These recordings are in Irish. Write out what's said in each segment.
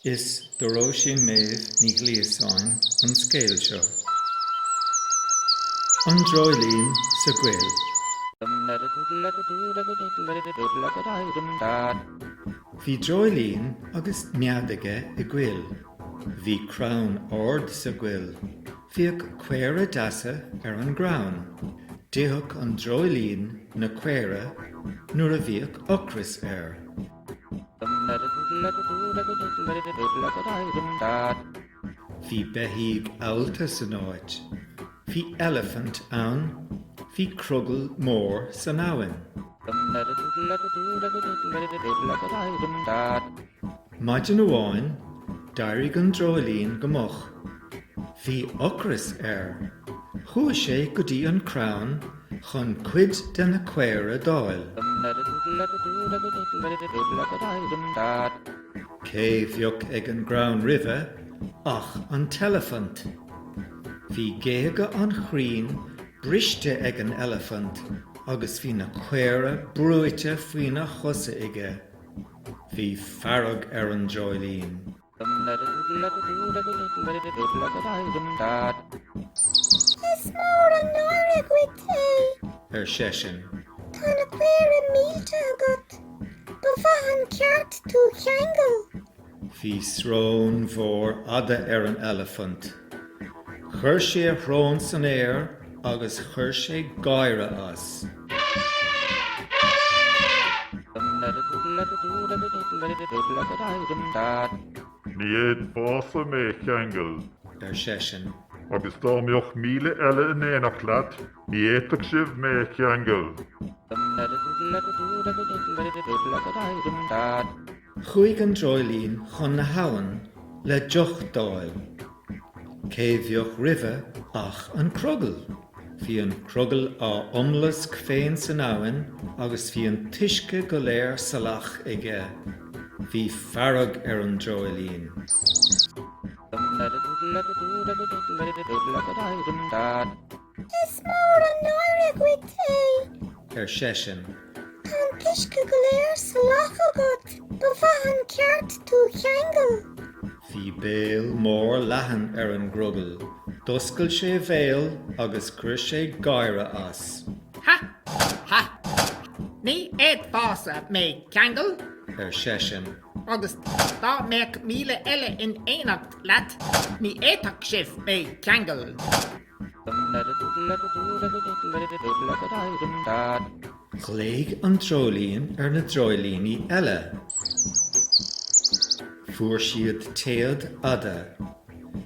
Is do Róisín Méabh Ní Ghliasáin an scéal seo. An Dreoilín sa gCoill. Bhí dreoilín agus nead aige i gcoill. Bhí crann ard sa gcoill. Bhíodh caora deasa ar an gcrann. D'itheadh an dreoilín na caora nuair a bhíodh ocras air. Bhí beithígh allta san áit. Bhí elefant ann. Bhí crogall mór san abhainn. Maidin amháin, d'éirigh an dreoilín go moch. Bhí ocras air. Chuaigh sé go dtí an crann. chun cuid de na caora d'fháil. Cé bheadh ag an gcrann roimhe ach an t-elefant. Bhí géaga an chrainn briste ag an elefant agus bhí na caora brúite faoina chosa aige. Bhí fearg ar an dreoilín. Is mór an náire dhuit é. ar seisean. Tá na caora millte agat. Ba mhaith an ceart tú cheangal. Bhí srón mhór fhada ar an elefant. Chuir sé a shrón san aer agus chuir sé gáire as. Ní fhéadfása mé cheangal. ar seisean. Agus dá mbeadh míle eile in éineacht leat, ní fhéadfadh sibh mé cheangal. Chuaigh an dreoilín chun na habhann le deoch d'fháil. Cé bheadh roimhe ach an crogall. Bhí an crogall á iomlasc féin san abhainn agus bhí an t-uisce go léir salach aige. Bhí fearg ar an dreoilín. Is mór an náire dhuit é. ar seisean. Tá an t-uisce go léir salach agat. Ba mhaith an ceart tú cheangal. Bhí béal mór leathan ar an gcrogall. D'oscail sé a bhéal agus chuir sé gáire as. Ha! Ha! Ní fhéadfása mé cheangal. ar seisean. Agus dá mbeadh míle eile in éineacht leat, ní fhéadfadh sibh mé cheangal. Ghlaoigh an dreoilín ar na dreoilíní eile. Fuair siad téad fhada.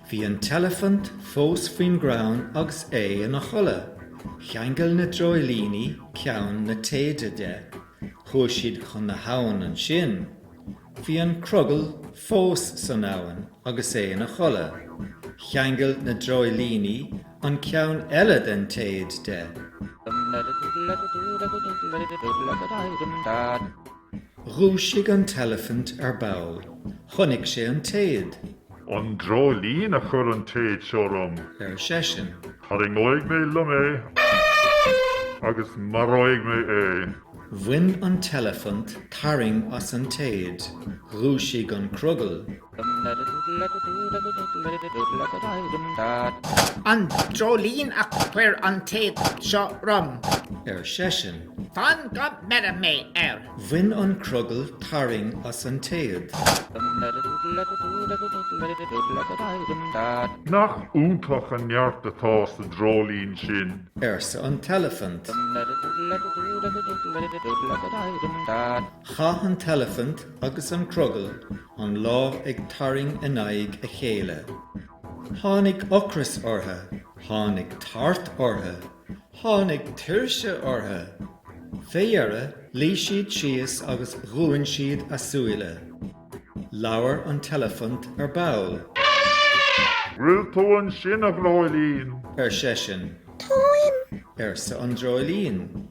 Bhí an t-elefant fós faoin gcrann agus é ina chodladh. Cheangail na dreoilíní ceann na téide de. Chuaigh siad chun na habhann ansin. Bhí an crogall fós san abhainn agus é ina chodladh. Cheangail na dreoilíní an ceann eile den téad de. Dhúisigh an t-elefant ar ball. Chonaic sé an téad. An dreoilín a chuir an téad seo orm. ar seisean. Tarraingeoidh mé liom é agus maróidh mé é. Bhain an t-elefant tarraing as an téad, dhúisigh an crogall. An dreoilín a chuir an téad seo orm. ar seisean. Fan go mbeire mé air! Bhain an crogall tarraing as an téad. Nach iontach an neart atá sa dreoilín sin! arsa an t-elefant. Chaith an t-elefant agus an crogall an lá ag tarraing in aghaidh a chéile. Tháinig ocras ortha, tháinig tart ortha, tháinig tuirse ortha. Fé dheire luigh siad síos agus dhúin siad a súile. Labhair an t-elefant ar ball. Bhfuil tú ansin, a Dhreoilín? ar seisean. Táim! arsa an Dreoilín.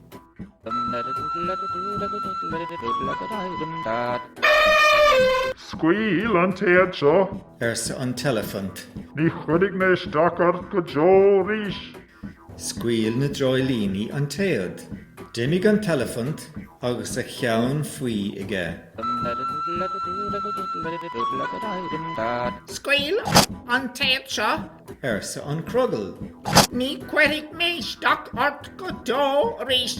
Scaoil an téad seo! arsa an t-elefant. Ní chuirfidh mé isteach ort go deo arís! Scaoil na dreoilíní an téad. D'imigh an t-elefant agus a cheann faoi aige. Scaoil an téad seo, arsa an crogall. Ní chuirfidh mé isteach ort go deo arís.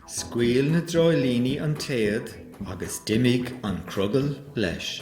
Scaoil na dreoilíní an téad agus d'imigh an crogall leis.